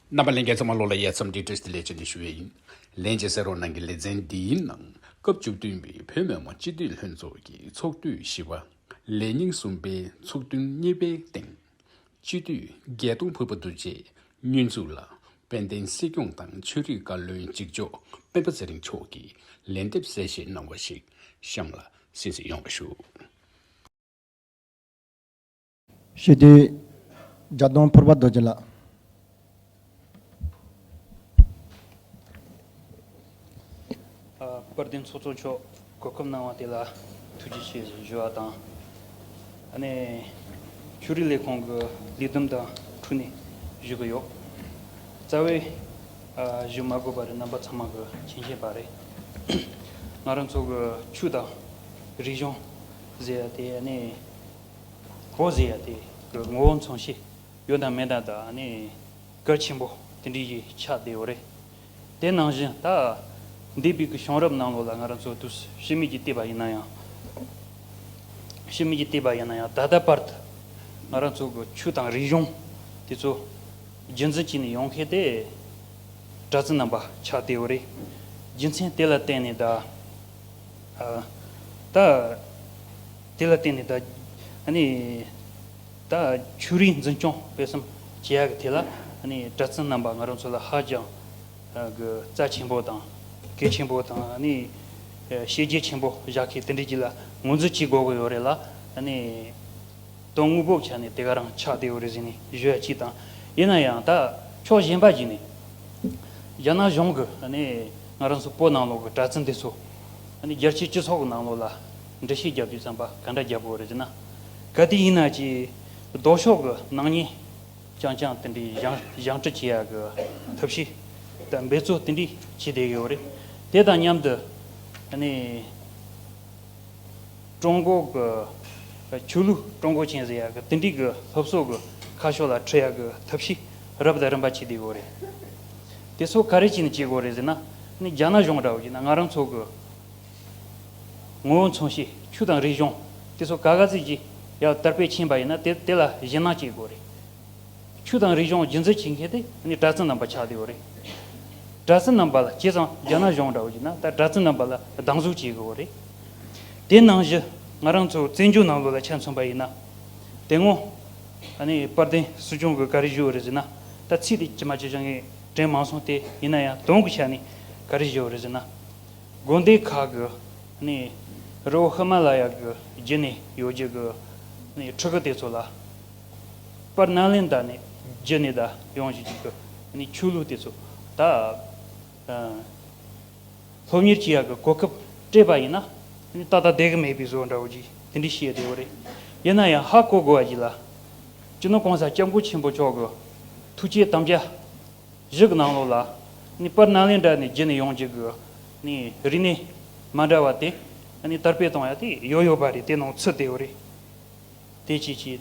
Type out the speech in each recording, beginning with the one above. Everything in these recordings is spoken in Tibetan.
རྣམ་པ་ལན་བརྒྱད་ཙམ་མ་ལོག་ལ་ཡས་ཚམ་འདྲིས་བཀྲིས་བདེ་ལེགས་བྱས་ནས་ཞུ་བས་ཡིན། ལན་ཅིག་སེར་རོང་ནང་གི་ལེ་ཚན་འདིའི་ནང་སྐབས་བཅུ་བདུན་པའི་བོད་མི་མང་སྤྱི་འཐུས་ལྷན་ཚོགས་ཀྱི་ཚོགས་དུས་བཞི་བ། ལས་ཉིན་གསུམ་པའི་ཚོགས་ཐུན་གཉིས་པའི་སྟེང། སྤྱི་འཐུས་རྒྱལ་སྟོང་ཕུར་པ་འདུ་བྱས་བསྙོན་འཛུགས་ལ་དཔལ་ལྡན་སྲིད་སྐྱོང་དང་ཆོས་རིག་བཀའ་བློན་གཅིག་ལྕོགས་སྤེན་པ་ཚེ་རིང་མཆོག་གིས་ལན་འདེབས་གསལ་བཤད་གནང་བ་ཞིག་གཤམ་ལ་གསན་གཟིགས་ཡོང་བ་ཞུ། ཞུས་དུས། སྒྲ་གདོང་ཕུར་པ་རྡོ་རྗེ་ལགས། དཔལ་ལྡན་ཚོགས་གཙོ་མཆོག་གོ་སྐབས་གནང་བ་དེ་ལ་ཐུགས་རྗེ་ཆེ་ཞེས་བརྗོད་པ་དང། ནས་ཆོས་རིག་ལས་ཁུངས་ཀྱི་ལས་བསྡོམས་དང་འཁྲུག་ནས་བཞུགས་ཀྱི་ཡོད། རྩ་བའི་བཞུགས་མ་དགོས་པ་རེད་རྣམ་པ་ཚང་མ་གི་མཁྱེན་ཤེས་པ་རེད། ང་རང་ཚོ་གི་ཆོས་དང་རིག་གཞུང་ཟེར་ཡ་དེ་ནས་ཧོ་ཟེ་ཡ་དེ་གི་ངོ་བོ་མཚུངས་ཤེས་ཡོད་དང་མེད་དག་ནི་སྐལ་ཆེན་པོ་དེ་འདྲའི་ཡིག་ཆ་དེའོ་རེད། དེ་ནང་བཞིན་ད་ལྟའི་བོད་ཀྱི་གཤོང་རབ་ནང་ལོགས་ལ་ང་རང་ཚོ་དུས་ཕྱི་མིག་གིས་བལྟས་པ་ཡིན་ན་ཡང་ཕྱི་མིག་གིས་བལྟས་པ་ཡིན་ན་ཡང་ད་ལྟ་བར་དུ་ང་རང་ཚོ་གི་ཆོས་དང་རིག་གཞུང་དེ་ཚོ་རྒྱུན་འཛིན་བྱས་ནས་ཡོང་མཁན་དེ་གྲྭ་བཙུན་རྣམ་པ་ཆགས་དེའོ་རེད། རྒྱུ་མཚན་དེ་ལ་བརྟེན་ནས་ད་ལྟ། དེ་ལ་བརྟེན་ནས་ད་ཆུ་རིན་འཛིན་སྐྱོང་སྤེལ་གསུམ་བྱེད་ཡག་གི་དེ་ལ་གྲྭ་བཙུན་རྣམས་པ་ང་རང་ཚོ་ལ་ཧ་ཅང་གི་རྩ་ཆེན་པོ་དང་གལ་ཆེན་པོ་དང་བཤད་རྒྱལ་ཆེན་པོ་བཞག་གི་དེ་འདྲས་ཀྱི་ལ་ངོས་འཛིན་བྱེད་དགོས་གི་ཡོད་རེད་ལ་དོན་དངོས་པོ་ཆ་ནས་དེ་ག་རང་ཆགས་དེ་འོ་རེ་ཟིན་ནས་བཞུད་ཡ་ཅིག་དང་ཡིན་ན་ཡང་ད་ཕྱོགས་གཞན་པ་ཞིག་ནས་རྒྱ་ནག་གཞུང་གི་ང་རང་ཚོ་བོད་ནང་ལོག་གི་གྲྭ་བཙུན་དེ་ཚོ་རྒྱལ་སྤྱིའི་སྤྱི་ཚོགས་ནང་ལོག་ལ་འདྲི་ཤེས་རྒྱབ་རྒྱུ་བརྩམས་པ་ག་འདྲ་རྒྱབ་དགོས་རེད་ཟེར་ན། ག་དུས་ཡིན་ན་གྱི་ལྡོག་ཕྱོགས་ཀྱི་སྣང་བརྙན་རྐྱང་རྐྱང་དེ་འདྲའི་བཞེངས་ཁྲི་བྱེད་ཡ་གི་ཐབས་ཤེས་དང་འབད་རྩོལ་དེ་འདྲའི་བྱེད་བསྡད་ཡོད་རེད། དེ་དང་མཉམ་དུ་ནི། ཀྲུང་གོ་གི་ཆོས་ལུགས་ཀྲུང་གོ་ཆེན་ཟེར་ཡ་གི་དེ་འདྲའི་གི་སློབ་གསོ་གི་ཁ་ཕྱོགས་ལ་ཁྲིད་ཡ་གི་ཐབས་ཤེས་རབ་དང་རིམ་པ་བྱེད་བསྡད་ཡོད་རེད། དེ་ཚོ་ག་རེ་བྱས་ནས་བྱེད་དགོས་རེད་ཟེར་ན། ནི་རྒྱ་ནག་གཞུང་འདྲ་བོ་ཡིན་ན་ང་རང་ཚོ་གི། ངོ་བོ་མཚུངས་ཤིང་ཆུ་དང་རི་གཞོང་དེ་ཚོ་ག་ག་ཚིག་གིས་ཡང་དར་སྤེལ་ཕྱིན་པ་ཡིན་ན་དེ་དེ་ལ་གཞི་སྣང་སྐྱེས་དགོས་རེད། ཆུ་དང་རི་གཞོང་རྒྱུན་འཛིན་བྱེད་མཁན་དེ་ནི་སྦྲ་རྩི་རྣམ་པ་ཆགས་དེའོ་རེད། སྦྲ་རྩི་རྣམ་པ་ལ་བྱས་ཙང་རྒྱ་ནག་གཞུང་འདྲ་བོ་ཞིག་ན་ད་སྦྲ་རྩི་རྣམ་པ་ལ་སྡང་ཟུག་བྱེད་དགོས་རེད། དེ་ནང་བཞི་ང་རང་ཚོ་བཙན་བྱོལ་ནང་ལོགས་ལ་ཆ་མཚོན་པ་ཡིན་ན། དེ་སྔོན་ཨ་ནི་དཔལ་ལྡན་སྲིད་སྐྱོང་གིས་ག་རེ་བཞེས་བོ་རེད་ཟེར་ན་ད་ཚིག་དེ་ཇི་མ་ཇི་བཞིན་ངས་དྲན་མ་སོང་སྟེ་ཡིན་ན་ཡང་དོན་གྱི་ཆ་ནས་ག་རེ་བཞེས་བོ་རེད་ཟེར་ན། དགོན་སྡེ་ཁག་གི་ནི་རི་བོ་ཧི་མ་ལ་ཡ་གི་རྒྱུད་ནས་ཡོད་རྒྱུ་གི་ནི་ཕྲུ་གུ་དེ་ཚོ་ལ་པར་སྣ་ལེན་དག་ནི་རྒྱུད་ནས་དག་ཡོང་བཞིན་རྒྱུད་གི་ནི་ཆོས་ལུགས་དེ་ཚོ་དག་སློབ་གཉེར་བྱེད་ཡ་གི་གོ་སྐབས་སྤྲད་པ་ཡིན་ན་ད་ལྟ་དད་གི་མེད་པའི་བཟོ་འདྲ་བོ་ཅིག་དེ་འདྲས་བྱེད་བདེ་བོ་རེད། ཡིན་ན་ཡང་ཧ་གོ་དགོས་བ་ཞིག་ལ། སྤྱི་ནོར་གོང་ས་སྐྱབས་མགོན་ཆེན་པོ་མཆོག་གི་ཐུགས་བསྐྱེད་དམ་བཅའ་བཞི་གི་ནང་ལོགས་ལ་ནི་པར་སྣ་ལེན་འདྲ་ནི་བརྒྱད་ནི་ཡོངས་ཀྱི་གི་ནི་རིགས་ནི་མ་འདྲ་བ་དེ་ནི་དར་སྤེལ་གཏོང་ཡ་དེ་ཡོད་ཡོད་པ་རེད་དེ་ནང་ཚུད་དེའོ་རེད་དེ་བྱས་བྱས།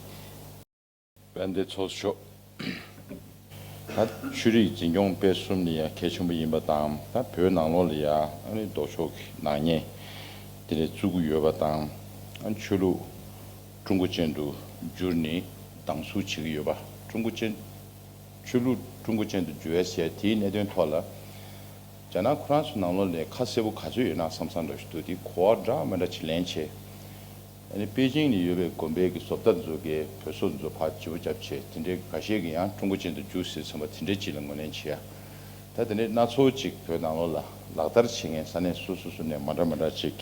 དཔལ་ལྡན་ཚོགས་མཆོག། ད་ཆོས་རིག་འཛིན་སྐྱོང་སྤེལ་གསུམ་ནི་ཡང་གལ་ཆེན་པོ་ཡིན་པ་དང་ད་བོད་ནང་ལོགས་ལ་ཡང་ཨ་རིའི་ལྡོག་ཕྱོགས་ཀྱི་ནག་ཉེས་དེ་རེ་བཙུགས་གི་ཡོད་པ་དང་ཆོས་ལུགས་ཀྲུང་གོ་ཅན་དུ་བསྒྱུར་ནི་སྡང་ཟུག་བྱེད་ཀྱི་ཡོད་པ་ཀྲུང་གོ་ཅན་ཆོས་ལུགས་ཀྲུང་གོ་ཅན་དུ་འགྱུར་བའི་ཞལ་དེའི་གནད་དོན་ཐོག་ལ། རྒྱ་ནག་ཁོ་རང་ཚོའི་ནང་ལོགས་ལས་ཁ་གསལ་བོ་ག་ཚོད་ཡོད་ན་བསམ་བསམ་འདྲ་ཞིག་འདུག་དེ་གོ་བ་འདྲ་མི་འདྲ་ཅིག་ལེན་ཆེ། ཨ་ནི་པེ་ཅིང་ནས་ཡོད་པའི་གོམ་པའི་གི་བཟོ་པ་ལྟ་འཛོལ་གས་བོད་སོག་འཛོལ་ཕག་ལྗི་བོ་རྒྱབ་ཆེ་དེ་འདྲའི་གི་ག་ཤེད་གི་ཡང་ཀྲུང་གོ་ཅན་དུ་འགྱུར་ཟེར་ཚོན་པ་དེ་འདྲའི་ཅིག་ལ་ངོས་ལེན་བྱེད་ཡ། ད་དེ་འདྲའི་སྣ་ཚོགས་ཅིག་བོད་ནང་ལོགས་ལ་ལག་བསྟར་བྱེད་མཁན་ས་གནས་སོ་སོ་སོ་ནས་མ་འདྲ་མི་འདྲ་ཅིག་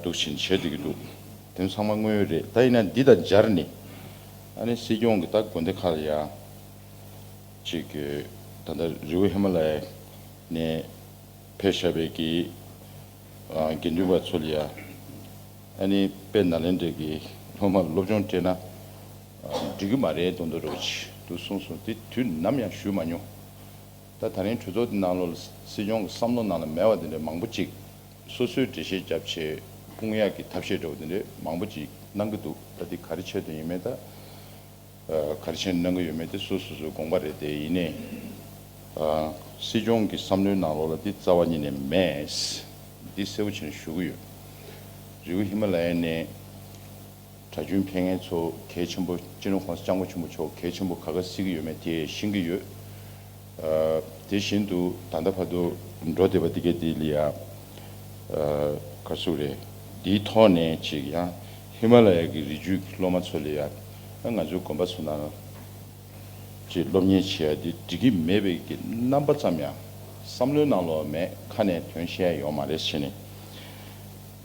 འདུག་ཕྱིན་ཆད་འདུག་གི་འདུག། དོན་ཚང་མ་དངོས་ཡོད་རེད་ད་ཡིན་ན་འདི་དང་སྦྱར་ནི། ཨ་ནི་སྲིད་སྐྱོང་གི་ད་དགོན་སྡེ་ཁག་ལ་ཡང་གཅིག་གིས་ད་ལྟ་རི་བོ་ཧི་མ་ལ་ཡ་ནས་ཕེབས་ཞབས་པའི་གི་དགེ་འདུན་པ་ཚོ་ལ་ཡང་ཨ་ནི་དཔལ་ནཱ་ལེནྡྲ་གི་སློབ་མར་སློབ་སྦྱོང་སྤྲད་ན་འགྲིག་གི་མ་རེད་མདོ་མདོ་རེད་དུ་གསུངས་སོང་དེ་དུས་ནམ་ཡང་ཞུས་མ་མྱོང། ད་ད་རིང་གྲོས་ཚོགས་འདི་ནང་ལོ་སྲིད་སྐྱོང་གི་བསམ་བློ་ནང་ལ་མེད་བ་དེ་འདྲ་མང་པོ་གཅིག་སོ་སོའི་འགྲེལ་བཤད་རྒྱབ་ཆེད་དཔུང་གཡག་གི་ཐབས་ཤེས་འདྲ་བོ་འདི་འདྲས་མང་པོ་ཅིག་གནང་གི་འདུག་ད་འདི་ག་རེ་ཆད་དུ་ཡིན་མེད་ད་ག་རེ་ཆད་ནས་གནང་གི་ཡོད་མེད་དེ་སུ་སོ་སོའི་དགོངས་པ་རེད་དེ་ཡིན་ནས་སྲིད་སྐྱོང་གི་བསམ་བློའི་ནང་ལོགས་ལ་འདི་རྩ་བ་ཉིད་ནས་མེད། འདི་གསལ་བོ་བྱེད་ནས་ཞུ་གི་ཡོད། རི་བོ་ཧི་མ་ལ་ཡ་ནི། གྲྭ་རྒྱུན་འཕེལ་ངེད་ཚོ་གལ་ཆེན་པོ་སྤྱི་ནོར་ཁོང་ས་སྐྱ་མགོ་ཆེན་པོ་མཆོག་གལ་ཆེན་པོ་ག་ག་བསྲིས་ཀྱི་ཡོད་མེད་དེ་ཤེས་ཀྱི་ཡོད། དེ་བཞིན་དུ་ད་ལྟ་བར་དུ་འགྲོ་བསྡད་པ་འདི་གའི་དེ་ལི་ཡ་ཀར་སུ་རེད་འདིའི་ཐོག་ནས་ཅིག་ཡང་ཧི་མ་ལ་ཡ་གི་རི་རྒྱུད་ཀྱི་སློབ་མ་ཚོ་ལི་ཡ་ཨ་ང་ཚོའི་དགོན་པ་ཚོ་ནང་ཅིག་སློབ་གཉེར་བྱེད་ཡ་འདི་འགྲིག་གི་མེད་པའི་གི་རྣམ་པ་ཙམ་ཡང་བསམ་བློའི་ནང་ལོག་མེད་ཁ་ནས་དོན་བཤད་ཡོང་མ་རེད་བྱས་ནས་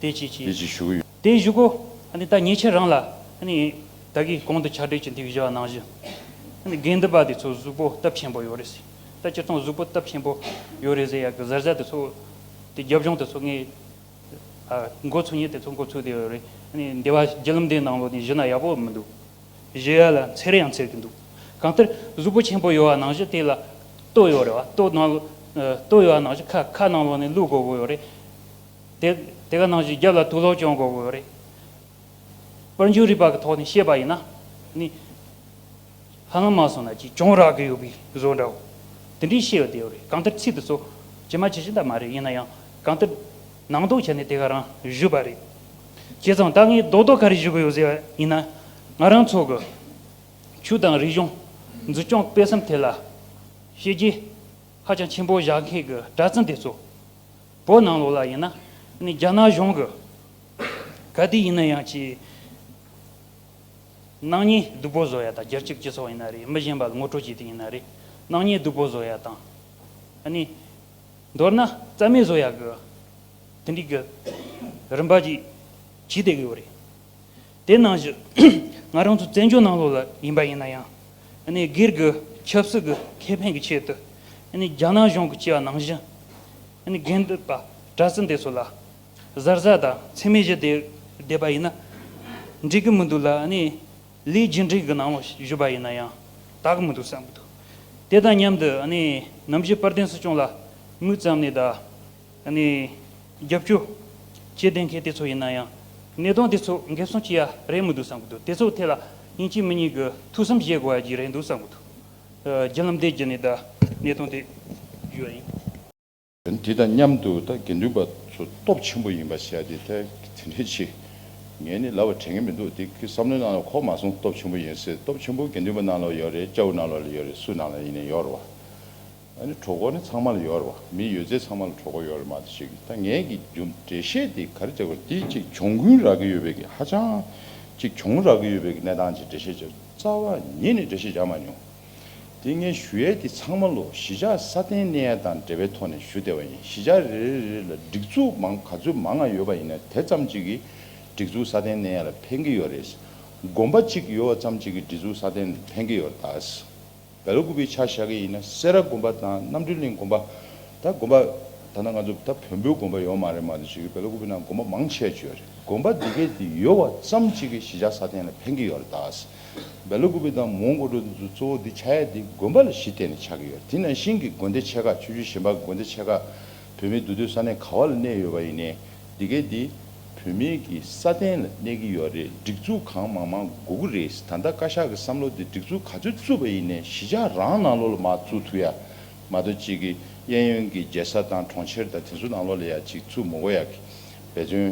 དེ་ཅིག་ཞུ་གི་ཡོད། དེ་བཞུགས་གོ། ནི་ད་ཉེས་ཆད་རང་ལ། ནི་བདག་གིས་གོང་དུ་ཕྱག་སྦྲེལ་གྱི་འདི་བཞི་བ་ནང་བཞི། ནི་དགེ་འདུན་པ་དེ་ཚོ་གཟུགས་པོ་སྟབས་ཆེན་པོ་ཡོད་རེད་ཟེར། ད་སྤྱིར་བཏང་གཟུགས་པོ་སྟབས་ཆེན་པོ་ཡོད་རེད་ཟེར་ཡ་གི་གཟར་གཟར་དེ་ཚོ། དེ་རྒྱབ་ལྗོངས་དེ་ཚོ་ངའི། མགོ་ཚུགས་ཉིན་དེ་ཚོ་མགོ་ཚུགས་དེ་ཡོད་རེད། ནི་འདི་བ་རྒྱལ་ལམ་དེའི་ནང་ལོ་ནི་བཞི་ན་ཡག་པོ་མི་འདུག། བཞི་ཡ་ལ་འཚེར་ཡང་འཚེར་གི་འདུག། གང་ལྟར་གཟུགས་པོ་ཆེན་པོ་ཡོད་བ་ནང་བཞི་དེ་ལ། ལྟོ་ཡོད་རེད་བ་ལྟོ་ནང། ལྟོ་ཡོད་བ་ནང་བཞི་ཁ་ཁ་ནང་ལོ་ནི་ལུག་མགོ་བོ་ཡོད་རེད། དེ་ག་ནང་བཞིན་རྒྱབ་ལ་དུག་ལོག་ཀྱང་འགོག་དགོས་རེད། པར་འཇུག་རིག་པ་གི་ཐོག་ནས་བཤད་པ་ཡིན་ན་ནི། ཧ་ལམ་མ་སོང་ན་ཅིས་ཀྱང་རག་གི་ཡོད་པའི་བཟོ་འདྲའོ། དེ་འདྲའི་ཤེས་བདེའོ་རེད་གང་ལྟར་ཚིག་དེ་ཚོ་ཇི་མ་ཇི་བཞིན་ད་མ་རེད་ཡིན་ན་ཡང་གང་ལྟར། ནང་དོགས་བྱས་ནས་དེ་ག་རང་བཞུད་པ་རེད། བྱས་ཙང་ད་ངས་རྡོག་རྡོག་ག་རེ་བཞུ་གི་ཡོད་ཟེར་བ་ཡིན་ན། ང་རང་ཚོ་གི་ཆོས་དང་རིག་གཞུང་འཛུགས་སྐྱོང་སྤེལ་བསམ་ཐད་ལ། བཤད་རྒྱུ་ཧ་ཅང་ཆེན་པོ་བཞག་མཁན་གི་གྲྭ་བཙུན་དེ་ཚོ། བོད་ནང་ལོགས་ལ་ཡིན་ན་ནི་རྒྱ་ནག་གཞུང་གི་ག་དུས་ཡིན་ན་ཡང་ཆེས་ནག་ཉེས་སྡུག་པོ་བཟོ་ཡ་དང་རྒྱལ་སྤྱིའི་སྤྱི་ཚོགས་ཡིན་ན་རེད་མི་གཞན་པ་ལ་ངོ་སྤྲོད་བྱེད་དུས་ཡིན་ན་རེད་ནག་ཉེས་སྡུག་པོ་བཟོ་ཡ་དང། ནི་མདོར་ན་རྩ་མེད་བཟོ་ཡ་གི་དེ་འགྲིག་གི་རིམ་པ་ཅིག་བྱེད་བསྡད་ཀྱི་ཡོད་རེད། དེ་ནང་བཞིན་ང་རང་ཚོ་བཙན་བྱོལ་ནང་ལོགས་ལ་ཡིན་པ་ཡིན་ན་ཡང་སྒེར་གྱི་ཆབ་སྲིད་ཀྱི་ཁེ་ཕན་གྱི་ཆེད་དུ་རྒྱ་ནག་གཞུང་གི་བྱ་བ་ནང་བཞིན་རྒན་བསྡད་པ་གྲྭ་སྲིན་དེ་ཚོ་ལ་གཟར་གཟར་དང་ཚིག་མི་བཞི་བསྡད་པ་ཡིན་ན་འགྲིག་གི་མི་འདུག་ལ་ལི་རྗེས་འབྲིང་གི་ནང་ལོགས་བཞུགས་པ་ཡིན་ན་ཡང་དག་གི་མི་འདུག་བསམ་གྱི་འདུག་དེ་དང་མཉམ་དུ་ནམ་ཞིག་དཔལ་ལྡན་སྲིད་སྐྱོང་ལ་དམིགས་བརྩམས་ནས་ད། ནི། རྒྱབ་སྐྱོ། བྱེད་བདེན་མཁན་དེ་ཚོ་ཡིན་ན་ཡང། གནད་དོན་དེ་ཚོ་འགེབ་སྲུང་བྱེད་ཡ་རེད་མི་འདུག་བསམ་གི་འདུག་དེ་ཚོ་ཐད་ལ་དབྱིན་ཇི་མི་གཉིས་ཀྱི་ཐུགས་བསམ་བཞེས་དགོས་ཡ་གྱི་རེད་འདུག་བསམ་གི་འདུག་རྒྱུ་ལམ་འདེད་རྒྱུ་ནི་ད་གནད་དོན་དེ་ཡོད་ཡིན། དེ་དང་མཉམ་དུ་ད་དགེ་འདུན་པ་ཚོ་སྟོབས་ཆེན་པོ་ཡིན་པ་བྱས་ཏེ་ད་དེ་འདྲས་ཆེ། ངས་ནི་ལབ་པ་དྲན་གི་མི་འདུག་དེ་གི་བསམ་བློའི་ནང་ལ་ཁོག་མ་སོང་སྟོབས་ཆེན་པོ་ཡིན་ཟེར་སྟོབས་ཆེན་པོ་དགེ་འདུན་པ་ནང་ལ་ཡོད་རེད་སྐྱ་བོ་ནང་ལ་ཡོད་རེད་སུ་ནང་ལ་ཡིན་ན་ཡོད་རེད་བ། ཨ་ནི་གྲོགས་འགོ་ནི་ཚང་མ་ལ་ཡོད་རེད་བ། མི་ཡོད་ཚད་ཚང་མ་ལ་གྲོགས་འགོ་ཡོད་རེད་མ་ད་ཤེས་གི་ད་ངས་ཀྱི་རྒྱུ་འབྲས་བཤད་དེ་ག་རེ་བྱ་དགོས་དེ་གཅིག་གྱོང་གུན་རག་གི་ཡོད་པའི་གི་ཧ་ཅང་གཅིག་གྱོང་རག་གི་ཡོད་པའི་གི་གནས་སྟངས་ཀྱི་འབྲས་བཤད་བྱ་རྩ་བ་ཉིད་ནས་འབྲས་བཤད་བྱ་མ་མྱོང། དེ་ངས་ཞུ་ཡས་དེ་ཚང་མ་ལོ་གཞི་ཆགས་ས་བརྟན་གནས་ཡས་དང་འབྲེལ་བའི་ཐོག་ནས་ཞུ་བདེ་བ་ཡིན་གཞི་ཆགས་རེ་རེ་རེ་ལ་སྒྲིག་འཛུགས་མང་ག་ཚོད་མང་ང་ཡོད་པ་ཡིན་ན་དེ་ཙམ་གཅིག་གི་སྒྲིག་འཛུགས་ས་བརྟན་གནས་ཡས་ལ་ཕན་གི་ཡོད་རེད་དགོན་པ་གཅིག་ཡོད་བ་ཙམ་གཅིག་གི་སྒྲིག་འཛུགས་ས་བརྟན་ལ་ཕན་གི་ཡོད་རེད་ད། བལ་ལོ་དགུ་པའི་ཆ་བཞག་གི་ཡིན་ན་སེ་ར་དགོན་པ་དང་རྣམ་སྤྲུལ་གླིང་དགོན་པ། ད་དགོན་པ། ད་ནང་ང་ཚོ་ད་བོན་པོའི་དགོན་པ་ཡོད་མ་རེད་མ་དེ་བྱས་ཀྱི་བལ་ལོ་དགུ་པའི་ནང་དགོན་པ་མང་ཆེ་བརྗོད་རེད་དགོན་པ་འདི་གའི་དེ་ཡོད་བ་ཙམ་གཅིག་གི་གཞི་ཆགས་ས་སྟེང་ལ་འཕེན་གྱི་ཡོད་རེད་ད། བལ་ལོ་དགུ་པའི་དང་མོང་དགོན་གྲོང་དེ་ཚོ་གཙོ་བོ་འདི་ཆ་ཡ་འདི་དགོན་པ་ལ་གཞི་བརྟེན་ནས་ཆགས་ཀྱི་ཡོད་དེ་ནང་བཞིན་གྱི་དགོན་སྡེ་ཆེ་ཁག་ཆུ་ཆུ་གཞན་པ་དགོན་སྡེ་ཆེ་ཁག་བོད་མིའི་འདུ་སྡོད་ས་གནས་ག་བ་ལ་གནས་ཡོད་པ་ཡིན་ནའི་འདི་གས་འདི་བུད་མེད་ཀྱི་ས་སྟེང་ལ་གནས་ཀྱི་ཡོད་རེད་སྒྲིག་འཛུགས་གང་མང་མང་དགོས་ཀྱི་རེད་ད་ལྟ་བཀའ་ཤག་གི་བསམ་བློ་དེ་སྒྲིག་འཛུགས་ག་ཚོད་བཙུགས་པ་ཡིན་ནས་གཞིས་ཆགས་རང་ནང་ལོགས་ལ་མ་བཙུགས་ཐུག་ཡ་མ་གཏོགས་གཅིག་གི་གཡས་གཡོན་གྱི་རྒྱལ་ས་དང་གྲོང་ཁྱེར་དང་དེ་ཚོ་ནང་ལོགས་ལ་ཡ་གཅིག་བཙུགས་མི་དགོས་ཡ་གི་འབད་བརྩོན་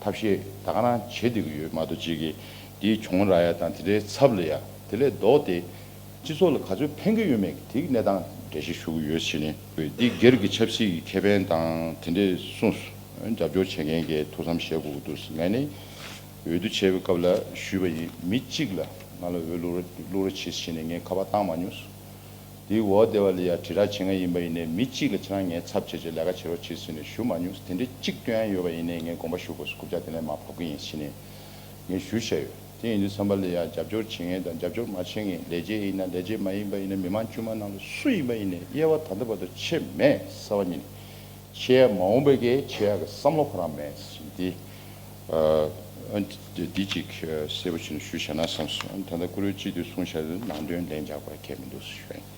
ཐབས་ཤེས་ད་ག་རང་བྱེད་བསྡད་ཀྱི་ཡོད་མ་གཏོགས་གཅིག་གི་འདིའི་གྱོང་རག་ཡ་དང་དེ་འདྲའི་ཚབ་ལ་ཡ་དེ་ལས་ལྡོག་སྟེ་སྤྱི་ཚོགས་ལ་ག་ཚོད་ཕན་གྱི་ཡོད་མེད་ཀྱི་དེ་གི་གནས་སྟངས་འགྲེལ་བཤད་ཞུ་གི་ཡོད་ཕྱིན་ནི། འདི་སྒེར་གྱི་ཆབ་སྲིད་ཀྱི་ཁེ་ཕན་དང་དེ་འདྲའི་གསུངས་སོ། རྒྱབ་སྐྱོར་བྱེད་མཁན་གྱི་ཐུགས་བསམ་བཞེས་དགོས་ཀྱི་འདུག་ངས་ནི་འོས་བསྡུ་བྱས་པའི་སྐབས་ལ་ཞུས་པ་ཡིན་མི་གཅིག་ལ་ང་ལ་འོས་བླུག་རོགས་བླུག་རོགས་བྱེད་ཕྱིན་ནི་ངས་ཁ་པར་བཏང་མ་མྱོང་སོ། དེའི་འོག་སྡེ་བ་ལ་ཡང་དྲིལ་བསྒྲགས་བྱེད་མཁན་ཡིན་པ་ཡིན་ནི་མི་གཅིག་ལ་ཁྱེད་རང་ངའི་ཚབ་བྱས་ཆོག་ལས་ཀ་བྱེད་རོགས་བྱེད་ཟེར་ནི་ཞུ་མ་མྱོང་སོ་དེ་འདྲའི་གཅིག་ལྟོས་ཡང་ཡོད་པ་ཡིན་ནི་ངས་དགོངས་པ་ཞུ་དགོས་སོ་རྐུབ་ལྕག་དེ་ལས་མ་ཕབ་ཀྱི་ཡིན་ཕྱིན་ནི་ངས་ཞུ་བཞག་ཡོད། དེ་ཡིན་དུས་བསམ་པ་ལས་ཡང་རྒྱབ་སྐྱོར་བྱེད་མཁན་དང་རྒྱབ་སྐྱོར་མ་བྱེད་མཁན་ལས་བྱེད་ཡིན་ན་ལས་བྱེད་མ་ཡིན་པ་ཡིན་ན་མི་དམངས་དཀྱུས་མ་རྣམས་ལ་སུ་ཡིན་པ་ཡིན་ནས་དབྱེ་བ་ད་ལྟ་བར་དུ་ཕྱེ་མེད་གསལ་བ་ཉིད། ཕྱེ་ཡ་མ་འོངས་པའི་གེ་ཕྱེ་ཡ་གི་བསམ་བློ་ཁོ་རང་མེད་བཞིན་ཏེ། ཨ། འདི་ཅིག་གསལ་པོ་བྱེད་ནས་ཞུ་བྱ་ན་བསམ་སོང་ད་ལྟ་བཀུར་འོས་སྤྱི་འཐུས་གསུང་བྱ་དེ་ནང་དོན་ལན་རྒྱག་པར་གལ་མི་འདུག་གསུངས།